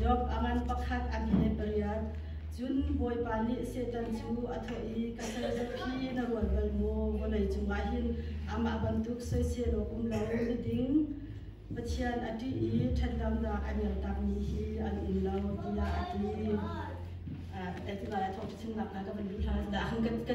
Job a ngan pakhat an he pariat. Cun Bawipa nih Satan cu a thawh i, Ka sarizet hi na rual bal maw? Vawlei cungah hin amah bantuk soisel awk um lo na ding. Pathian a ṭih i ṭhatlonak a liamtakmi hi an um lo, tiah a ti. Tiva a thawh chim nakhnga ka van duh ṭhan. Ka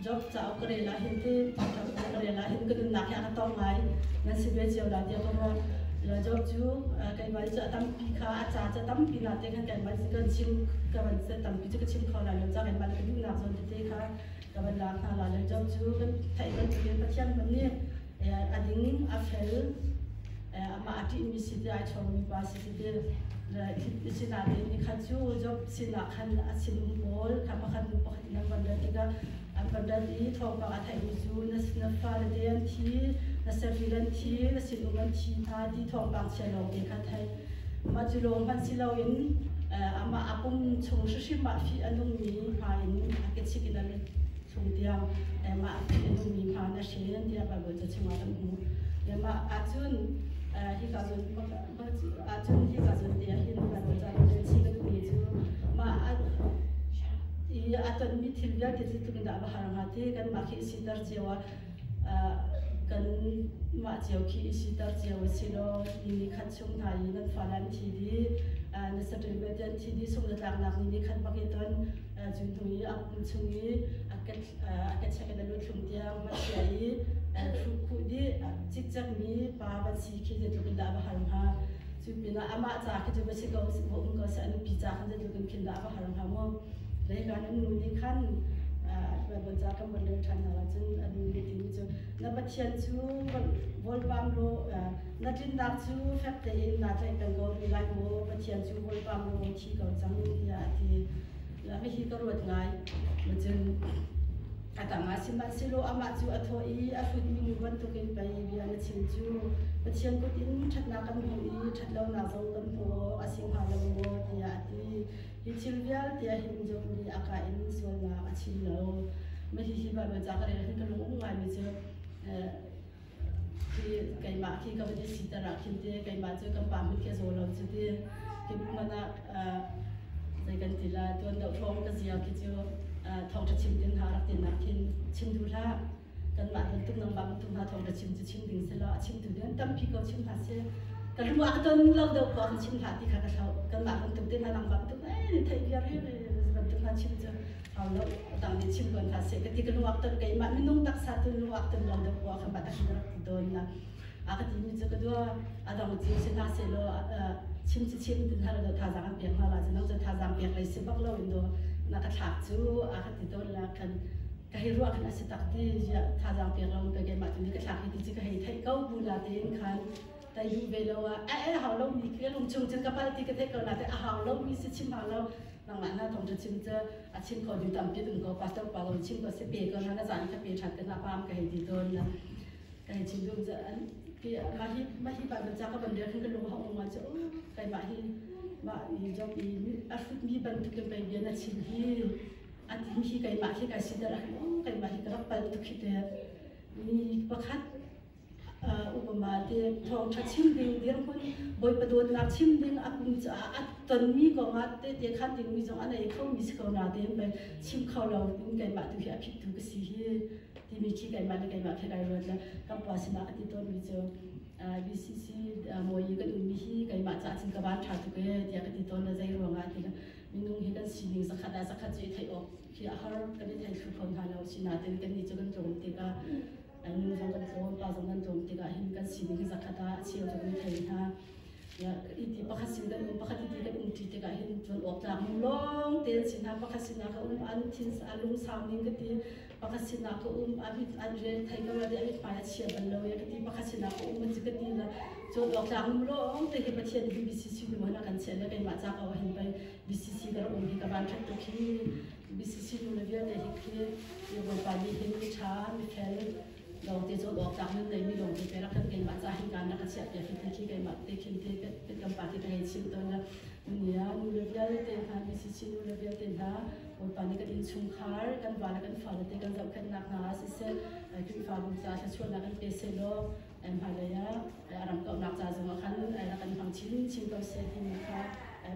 Job cauk ka rel ahhin ti cauk ka rel ahhin ka nunnak hi a ka tong lai nan si ve cio la tiah ka ruah. Job cu keiman cu a tampi kha a ca cu a tampi na te khan keiman cu kan chim ka van se tampi cu ka chim kho la lo ca keiman ka duhnak zawn tete kha ka van lak hna la lo Job cu kan theih bantukin Pathian van nih a ding a fel amah a ṭihmi si ti ai ṭhawngmi pa si ti sinain ni khat cu Job sinah khan a sinum pawl kha pakhat hnu pakhat nan kan rat tikah an kan rat i thawngpang a theihmi cu na fale te an thi na sevil an thi na sinum an thi hna ti thawngpang chia lawngte kha theih mah cu lawng hmanh si loin amah a pum chung hrihrim ah fi a nungmi hma in a kechik in a lut chung tiang mah fi a nungmi hma na hrin tiah Bible ca chungah kan hmuh mah ahcun hika cun Cun hika cun ti ahhin kan cah i thilningmi cu mah i a tonmi thil vialte cu tukindah va har hnga ti kanmah khi i siter cio a kanmah cio khi i siter cio u silaw ni ni khat chung hna i nan fa le an thi dih na saṭil ve ti an thi dih sung le tlaknak ni ni khat bak i ton Cutu i a kum chung i a ka check in a lut hlum tiang van chia i thu khu di cikcek mi pa van si khi ze tluk in dah va hal hnga cu pinah amah ca khi cu va si ko va um ko seh anu pi ca khan ze tluk in khin dah va hal hnga mu lei kan um nu nih khan van ca kan von leng ṭhan hna lo cun anu nih timi cu na pathian cu von pam law Na tlinnak cu fek tein naa tlaih peng ko rih lai maw? Pathian cu Bawipa maw thi ko cang tiah a ti. Hihi ka ruat ngai. Cun a tangah sihmanhsehlaw amah cu a thawh i a hrutmi nu bantukin pei bia na chim cu. Pathian kut in ṭhatnak kan hmuh i ṭhatlonak zong kan hmu awk a si hnga lo maw tiah a ti. Hi thil vialte a him deuhmi a ka in sualnak a chim lo. Hihi va ca ka rel hin ka lung um ngaimi cu keimah khi ka van i sitar ah khin ti keimah cu ka pa mit ka zaw lo cu ti kip hmanh ah zei kan ti la tuan do thawng ka zia khi cu thawngtha chim tin ha rak tin nak khin chim du hlah kanmah don tuk nang bang tu hna thawngtha chim cu chim ding se law a chim tu nan tam phi ko chim hna se ka lung a ton lo do ko khan chim hla ti kha ka thlo kanmah ban tuk te hna nang bang tuk ai thei bia re re ban tuk hna chim cu haulo tang ni chim tuan hna se ka ti ka nuak ton keimah minung taksa tu nuak ton lo deuh wa ka pa tak rak ti don la a ka ti mi chu ka dua adang chi si na se lo chim chi chim tin har do tha zang piak ma ba chu no chu tha zang piak lai si bak lo in do na ka thak chu a ka ti don la kan ka hi ruwa kan asi tak ti ya tha zang piak lo pe ke ma tu ni ka thak hi ti chi ka hei thai kau bu la te in khan ka yu ve lo a e hau lo mi ka lung chung cun ka pal ti ka theih ko na te a hau lo mi si chim hau lo nangmah na tong chim cu a chim ko du tampi tung ko pastor pa lo chim ko se pe ko na na zan ka pe that na pam ka hei ti ton na ka hei chim dum an pi ma hi ma hi ba ba cha ka ban de kan ka lung hau ma chu kai ma hi ma ni job i a hrut mi ban tu kai bia na chim hi a tim hi kai ma hi kai sidar hi kai ma hi ka rak pal tu khi te ni pakhat upama te thawngṭha chim ding dirhmun Bawipa dawtnak chim ding a pum caah a tonmi kongah tete khan dingmi zong a nei kho mi si ko na tein bai chim kho lo in keimah tu hi a phit tu ka si hi timi khi keimah le keimah khe kai ruat le kan pa sinah a ti tawnmi cu UCC mawi kan ummi hi keimah caah cun ka van ṭha tu ke tiah ka ti tawn le zei ruangah ti minung hi kan sining zakhat ah zakhat cu i theih awk hi a har kan i thei thlu kho hna lo si na tein kan ni cu kan tlawm tikah an nu zong kan cawm pa zong kan cawm tikah hin kan sining hi zakhat ah a cheu cu kan thei hna ya iti pakhat sin kan um pakhat iti kan um ṭi tikah hin cun awp tlak mu lawng te si hna pakhat sin ah ka um an thin a lung sau ning ka ti pakhat sin ah ka um a bit an re thai ka ra a bit pai a chia ban lo ya ka ti pakhat sin ah ka um an ka ti na cun awp tlak mu lawng te hi pathian hi BCC nu na kan che le kai ma cha ka hin pai BCC ka um hi ka ban khat to khi BCC nu le vialte hi khi mi Bawipa nih hin miṭha, mithel, lawngte zulhawktlak nun neimi lawngte te rak kan keimah ca hin kaan rak ka chiah piak hi te khi keimah te khin te kan pa te ka ngei chim tawn a nia nu le vialte hna BCC nu le vialte hna Bawipa nih kan innchungkhar kan vale kan fale te kan zohkhenhnak hna ah siseh Khrihfabu ca thluachuahnak kan pe selaw hmailei ah a ramkomhnak ca zongah khan rak kan hmang chinchin ko seh timi kha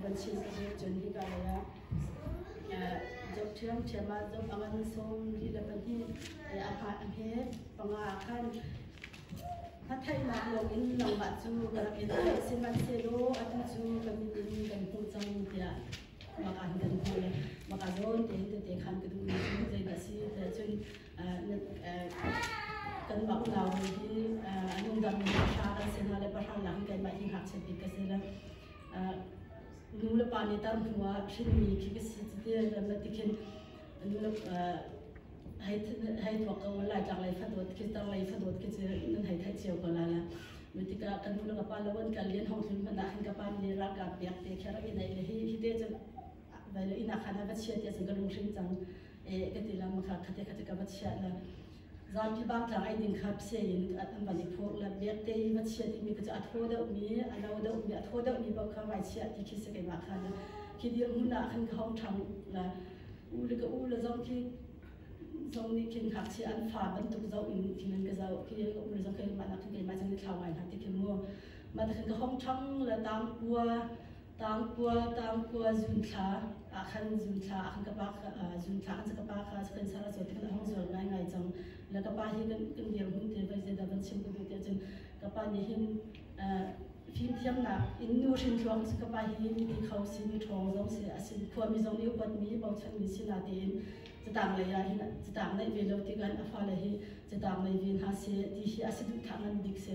van chin ka zuar cun hika lei ah Job ṭhiamṭhiam ah Job a van sawm rih le pahnih a fah a he. Panga ah khan a theihnak lawngin nangmah cu ka rak i theih, sihmanhsehlaw atu cu ka mit in kan hmuh cang tiah maka in kan hmuh i maka zawn tein tete khan ka duhmi cu zeidah a si tiah cun kanmah unau hawi hi a nungdam mi pahra kan si hna le pahra lak in keimah hi ngakchiat bik ka si le nulepa nih tar hnu ah hrinmi khi ka si cu ti ma ti khin nule hei thuak ko laitlang lei fadawt khi tar lei fadawt khi cu nan hei thai cio ko la la mi tika kan nu ka pa lawan ka lian hong hlun man khin ka pa mi ralka piak te kher i nei le hi hi te cun vai le ina khana va chia te cun ka lung hrin cang e ka ti lam kha khate khate ka va chia la Zapi bangtlang eidin kha psia in an van i phurh le biakte i va chiat i mi cu a thaw deuhmi, a no deuhmi, a thaw deuhmi paoh kha ngaichiah ti khi si keimah khan khi dir hmun ah khan ka hong ṭhang le u le ka u le zong khi zong nih khin ngakchia an fa bantuk zoh in khin an ka zoh khi ka u le zong keimah nak khin keimah cun i thlau ngai hna ti khi mu mah khan ka hong ṭhang le tangkua Tangkua Tangkua zunthla ah khan zunthla ah khan ka pa zunthla an ka pa kha kan sara zo kan hong zual ngai ngai cang la ka pa hi kan kan dir hun te vai ze da kan sim ku te cun ka pa nih hin fimthiamnak in nu hrinthluang ka pa hi mi kho si mi ṭhawng zong si a sin khua mi zong nih upat mi bochan mi si na tein catang lei ah hin catang naih ve lo tikan a fale hi catang nei ve hna se ti hi a si duh thah ngan bik se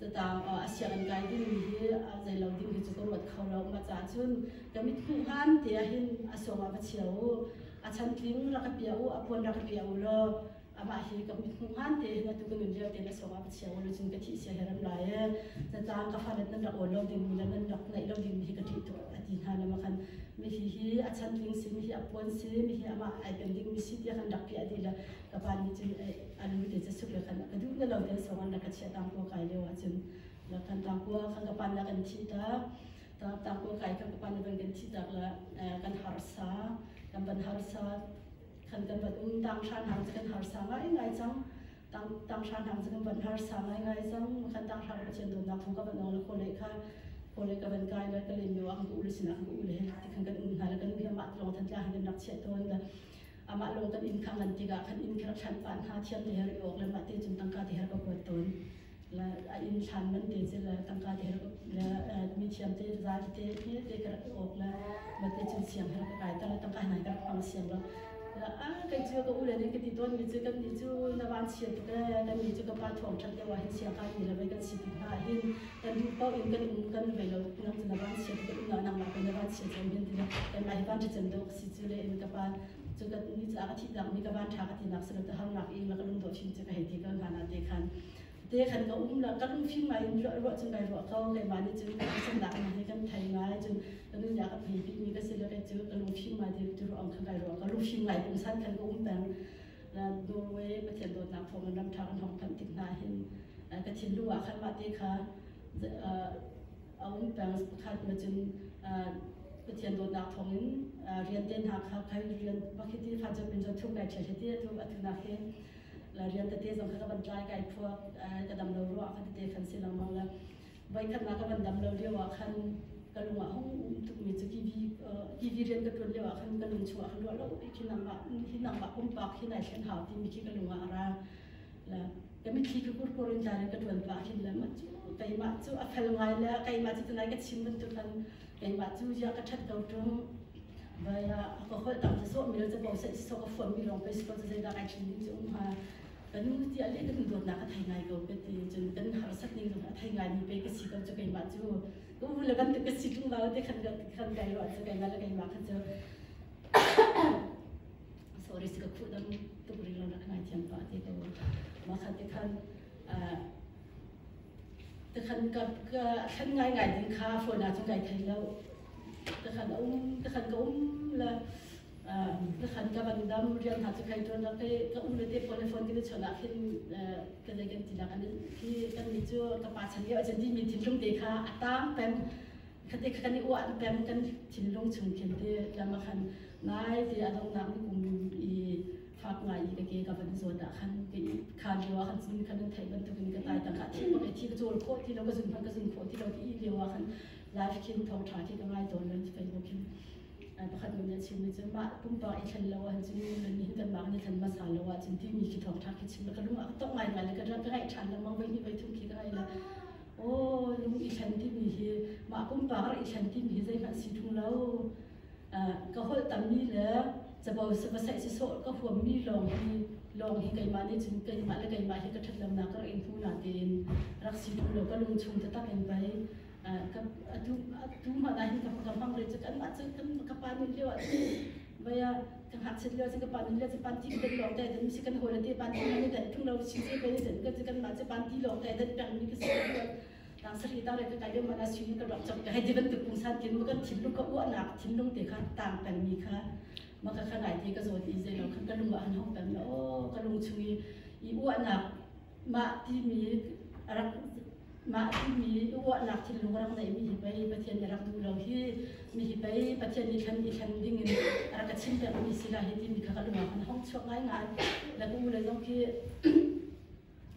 Tataang a sianginn kai dingmi hi zei lo ding hi cu ka ruat kho lo. Mah caah cun ka mithmuh hlan ti ahhin a sawm ah va chia u. A chantling rak ka pia u, a puan rak ka pia u law amah hi ka mithmuh hlan te hin atu ka nun lio tein a sawm ah va chia u law cun ka thih sia he ram lai ee. Tataang ka falet nan rak awl lo dingmi le nan rak naih lo dingmi hi ka ṭih tuk a ti hna lama khan mi hi hi a chantling si, mi hi a puan si, mi hi amah ai pen dingmi si tiah khan rak piah dih le ka pa nih cun a lu te casuk le khan ka duh na lo te sawng an rak ka chiah tangkua kai lio ah cun la kan tangkua kan ka pan la kan thi tak tak tangkua kai kan ka pan la kan kan thi tak la kan harsa kan ban harsa kan kan ban um tang shan hang kan harsa ngai ngai chang tang tang shan hang kan ban harsa ngai ngai chang kan tang shan chan don na khu ka ban la ko le kha kole ka ban kai la ka len yo ang u le sina u le ti kan kan um na la kan bia ma tlong than tla han nak che ton da amah lo kan inn kha ngan tikah kan inn kha rak hranh pah hna thiam te her i awk le mah te cun tangka te her ka kuat tawn la a inn thlan man te cu la tangka te her la mi thiam te zai te hi te ka rak i awk la ma te cun siang her ka kai ta la tangka nai ka rak hmang siang lo a kai cu ka u le nih ka ti tawn mi cu kan ni cu na van chia tuk kan ni cu ka pa thong ṭhat deuh ah hin siang kan ni la vai kan si tuk hna hin kan duh ko in kan um kan ve lo nang cu na van chia tuk kan um na nang mah pe na van chia chan hin ti la kan mah hi van ṭi chan dawk thi cu le in ka pa cu ka ni ca ka thi tak mi ka ban tha ka ti nak silo te har nak i la ka lung do chin che ka hei ti ka na na te khan te khan ka um la ka lung phim mai in ro ro cun bai ro ko ke ma ni cun ka san dak ni kan thai ngai cun ka nu ya ka phei pi mi ka se la ke cu ka lung phim mai ti tu ro ong khan bai ro ka lung phim ngai kum san kan ka um pang Norway pathian dawt nak phong ram tha kan hong phan tik na hin ka thin lu a khan ma te kha a um peng pakhat na cun Pathian dawtnak thawngin rian te hna kha khai rian pakhiti kha cu pin zo thuk ngai ṭhe hiti atu atu na ke la rian tete zong kha ka van tlai kai phuak ka dam lo ruah ka tete khan si lengmang la voi khat na ka van dam lo lio ah khan ka lung ah hung um tuk mi cu kivi kivi rian ka tuan lio ah khan ka lung chuah kha luah lo hi nang ba hi nang ba pumpak hi nai thlen hau ti mi khi ka lung ah a ra le ka mitthli ka kurkur in tlan in ka tuan pa hin le ma cu teimah cu a fel ngai le keimah cu tunai ka chim bantuk an keimah cu ya ka that ko tum vai a ka hol tam sa so mil cha bo sai so ka fuan mi rong pe so cha sai da kai chin nim chu um ha ka nu ti ale ka nu dot na ka thai ngai ko pe ti chun kan har sat ni zong a thai ngai mi pe ka si ko chu keimah chu ku le kan ka si tung da te khan ka khan kai ro cha keimah la keimah khan cha sorry si ka khuh dam tuk ring lo nak ngai thiam pa ti to ma khat te khan te khan ka ka thlan ngai ngai din kha phone na chung kai thai lo te khan um te khan ka um la te khan ka ban dam rian ha chu khai ton la ke ka um le te phone phone ke chona khin ka dai kan ti na kan ki kan ni chu ka pa chan ye ajan ti mi thin lung te kha atam pem Khati khan i uah pem kan thinlung chung khin ti lam a khan nai ti a dongnak ni kum i fak ngai i ka ke ka van zawt ah khan ka i kha lio ah khan cun kan thei bantuk in ka tai tang ka thing ka thi ka chol khawh ti lo ka zun hman ka zun khawh ti lo ti i lio ah khan life khin thong tha thi ka ngai tawn lo ti facebook khin pakhat nun nih chim ni cun mah pumpak i thlen lo ah cun nan hin kan mah ni thlen masa lo ah cun ti mi ki thong tha ki chim ka lung a tong ngai ngai le ka ka ngai than la mang vai ni vai thung ki ka ngai la aw ning i thlen timi hi mah pumpak rak i thlen timi hi zeihmanh si tung lo ka holh tammi le cabo vasaih sisawh ka huammi lawng hi lawng hi keimah nih cun keimah le keimah hi ka ṭhatlemnak ka rak in hmu na tein rak si tung lo ka lungchung taktak in pei atu atu mahna hin ka ka hmang re cu kanmah cu kan ka pa nih lio ah vaya ka hngakchat lio si ka pan lio si pan ti kan lawng tai dan si kan hol te pan ti ni dan thung lo si se pe dan ka si kan ma si pan ti lawng tai dan peng mi ka si kan tang sari tang le ka kai mana si ni ka rak chap ka hai divan tu pung san kin makan thin lu ka u anak thin lung te kha tang peng mi kha maka kha nai te ka zo ti ze lo khan ka lung an hong peng o ka lung chung i i u anak Mah timi rak mah timi uahnak thinlung rak neihmi hi pei Pathian na rak duh lo hi mi hi pei Pathian nih khan i thlen ding in rak ka chim pekmi si lah hi timi kha ka lungah khan hong chuak ngaingai. Le ka u le zong khi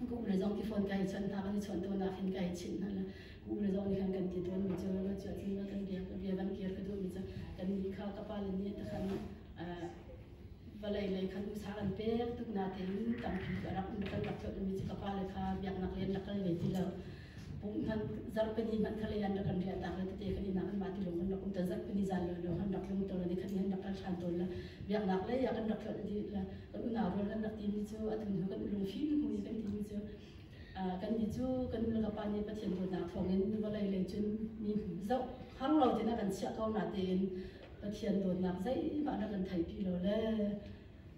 ka u le zong khi phone kai chawnh hna kan i chawnh tawn ah khin kai chinh hna la ka u le zong nih khan kan ti tawn mi cu lo cu tin lo kan bia ka bia kan kir ka duh mi cu kan nih kha ka pa le nih takhan vawlei lei khan usa an pek tuk nain tampi a rak kan rak colh mi cu ka pale kha biaknak rian rak kal ve ti lo pum hman zarhpini hman khalei an rak kan riah tak le tete kan inak an mati lung kan rak um ta zarhpini zan lo lo han rak lung to ni khan han rak kal than ton la biaknak le ya kan rak tlol di la kan una rol kan rak ti mi chu atun hu kan lung fin mu kan ti mi chu kan ni chu kan nu ka pa ni pathian bo na thongin vawlei lei chun mi zau har lo tina kan chia ko na tein Pathian dawtnak zeihmah na kan theih ti lo le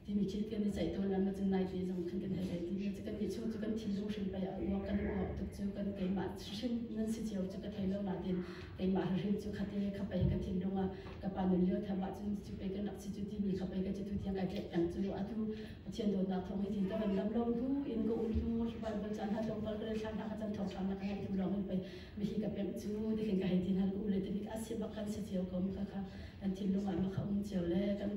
timi thil kan i ceih tawn an cun nai te zong khan kan hei ei ti kan ni chung cu kan thi zung hrim pei a uak kan u hawk tuk cu kan keimah hrim nan si cio cu ka thei lo na tin keimah hrim cu khate kha pei ka thin lunga ka pa nun lio thema cun cu pei kan rak si cu ti mi kha pei ka ci tu tiang kai pek peng cu atu Pathian dawtnak thawng hi tin ka van lam lo bu in ka um tu Bible chan ha tlawmpal ka le thlan ha ka chan thawng thlam na ka hei tu lawng in pei mihi ka pemh cu tihin ka hei ti hna u le tihi ka asit bak kan si cio ko mu khakha kan thinlung ah baka um cio le kan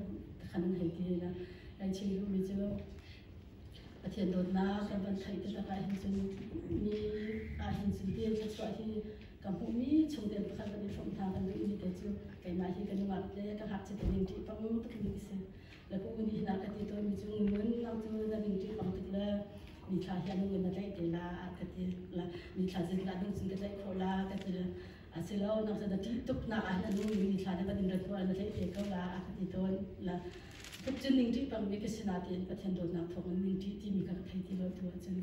kan hei ti hna kai chim lu mi cu Pathian dawtnak kan van theih te takah hin cun ni ah hin cun tiang ka chuah hi ka hmuh mi chung te pakhat van i hrawm hna kan duh mi te cu keimah hi ka nungak te ka hak che te ning ṭih pang tuk mi si Na pu nih na ka ti tawnmi cu ngun nang cu na ning ṭih hong tuk le mi thla hian ngun na tlaih te la ka ti la mi thla zin la ding cun ka tlaih kho la ka ti a si lo nang cu na ṭih tuk nak ah hin mi thla na van in rat na tlaih te ko la ka ti tawn la tuk cu ning ṭih bangmi ka si na tiin Pathian dawtnak thawng in ning ṭih timi ka thei ti lo tu ahcun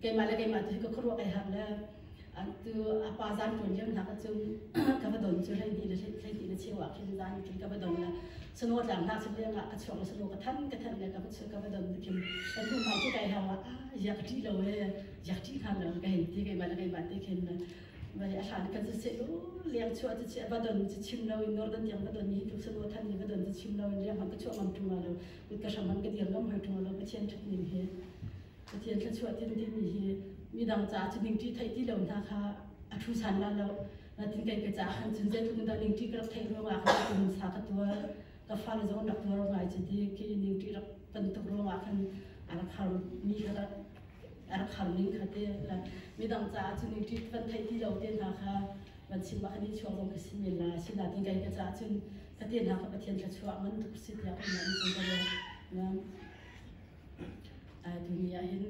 keimah le keimah tu hi ka khuaruah ai hak le tu apa zan tun liam nak chung ka va don chu hlei ni le hlei ti na cheu ah khin zan ki ka va don la sano tlang nak chung liang ka chuang sano ka than ka than le ka chu ka va don kim kan tu mai ki kai ha wa ya ka ti lo e ya ti han lo ka hin ti kai ma la kai ma te khin mai a hlan kan se lu liang chu chu chi va don chi chim lo in northern tiang va don ni tu sano than ni va don chi chim lo in liang man ka chuang am tu ma lo kut ka sham man ka diam ngam hoi tu lo ka chen thut nim he Pathian thluachuah tin timi hi midang caah cu ning ṭi theih ti lo hna kha a ṭhu san la lo. Natin kai ka caah khan cun zeitluk dah ning ṭi ka rak theih ruangah khan ka nun sa ka tuar ka fale zong rak tuar ngai cu ti ki ning ṭi rak ton tuk ruangah khan a rak har mi kha rak a rak har ning kha te midang caah cu ning ṭi kan theih ti lo te hna kha van chim ah khan i chuak zong ka si men la si natin kai ka caah cun ka te hna kha Pathian thluachuah ngan tuk si tiah ka ngan cun ka ruat. Tuni ah hin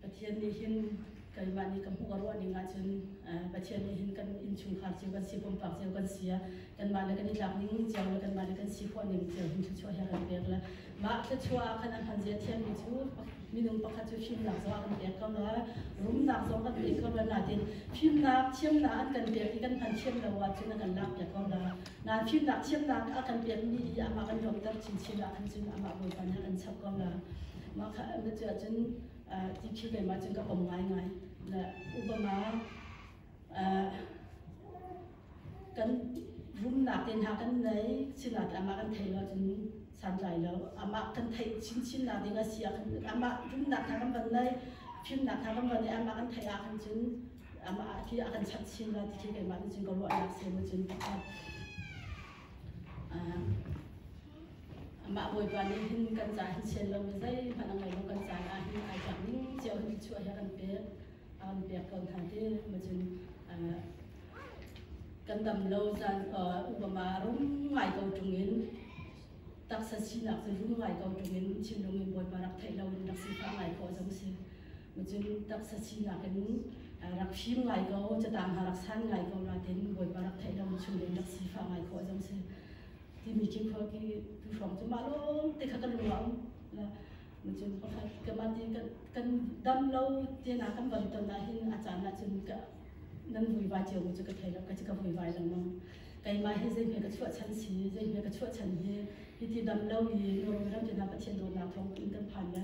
Pathian nih hin keimah nih ka hmuh a ruah ning ahcun Pathian nih hin kan innchungkhar cio kan si, pumpak cio kan si a, kanmah le kan i tlak ning cio le kanmah le kan si khawh ning cio hin thluachuah he a kan pek le mah thluachuah ah khan a hman zia thiammi cu minung pakhat cu fimnak zong a kan pek ko le rumnak zong kan pek ko le nain fimnak, thiamnak an kan pek i kan hman thiam lo ahcun a kan lakpiak ko le Nan fimnak thiamnak a kan pekmi hi amah kan lawmter chinchin ah khan cun amah Bawipa nih a kan chap ko na mah kha na cu ahcun ti khi lei ma cun ka kom ngaingai na upama kan rumnak te hna kan nei sinak amah kan thei lo cun santlai lo amah kan thei chinchin nak ding a si ah khan amah rumnak hna kan van nei fimnak hna kan van nei amah kan thei ah khan cun Amah khi a kan chanh chin lai ti keimah nih cun ka ruahnak sen nih cun amah Bawipa nih hin kan ca hin sian lo mi zeihmanh a ngei lo kan caan ah hin ai tlak ning cio hin cuah hi a kan pek a kan pek ko hna ti ma cun kan dam lo caan upama rum ngai ko ṭung in taksa sinak cu rum ngai ko ṭung in thinlung in Bawipa rak theih lo in rak sifah ngai khawh zong si Cun taksa sinak in rak fim ngai ko, catang ha rak san ngai ko natin Bawipa rak theih lo chung in rak sifa ngai ko azong si timi khi khua ki tu hrawng cu ma lawm te kha ka lung aum cun pakhat kamah ti kan dam lo tina kan bam ton na hin a caan na cun ka nan vui vai cio mu chu ka thei lo ka ka vui vai lengmang keimah hi zei hme ka chuah chan si zei hme ka chuah chan hi hi ti dam lo i nurum ram tina pathian dawtnak thawng in kan phan ya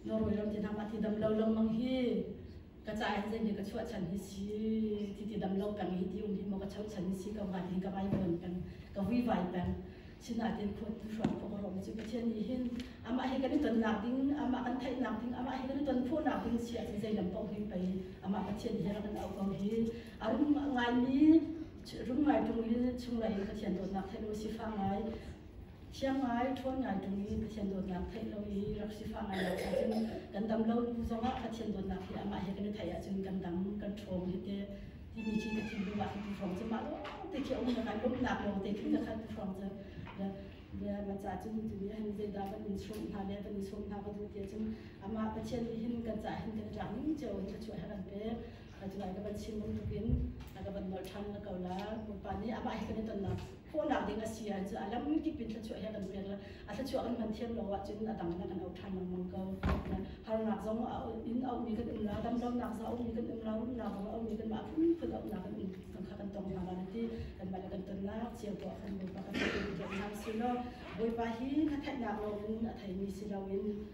Norway ram ti nak ah ti dam lo lengmang hi ka ca in zei nih ka chuah chan hi si ti ti dam lo peng hi ti um hi mo ka chau chan hi si ka ngat hi ka vai peng peng ka hui vai peng sina tin phut tu hruan ko ro mi chu ka chen ni hin ama hi kan ton nak ding ama kan thai nak ding ama hi kan ton phu nak ding si a chi zei lam pau hui pai ama pathian hi ram au ko hi arum ngai mi rum ngai tung li chung lai pathian ton nak thelu si fa ngai Thianghmai ṭhawn ngai tungmi Pathian dawtnak theih lo i rak sifah ngai lo ahcun kan dam lo zongah Pathian dawtnak hi amah he kan i theih ahcun kan dam kan ṭhawng hi teh timi ci ka thinlung ah hin ka hrawng cu mah lawngte khi a um ka kan lawmhnak lawngte khin ka khat ka hrawng cu bia maca cun tu nih hin zeidah kan in sawm hna le kan in sawm hna ka duh ti ahcun amah Pathian nih hin kan ca hin kan i ṭang ning cio in thluachuah her an pek a cuai ka van chim bantukin a ka van nolh ṭhan la ko la Bawipa nih amah he kan i tonnak Fawhnak ding a si ah cun a lamkip in thluachuah he kan pek le a thluachuah kan hman thiam lo ahcun a dang in a kan auh ṭhan lengmang ko. Harnak zong a in auhmi kan um lo, damlonak zong a ummi kan um lo, rumnak zong a ummi kan mah phunphun auhnak kan um kan kha kan tong hna lai ti kan mah le kan tonnak cio tuah kan Bawipa kan i dawtnak si law Bawipa hi na theihnak loin a theimi si loin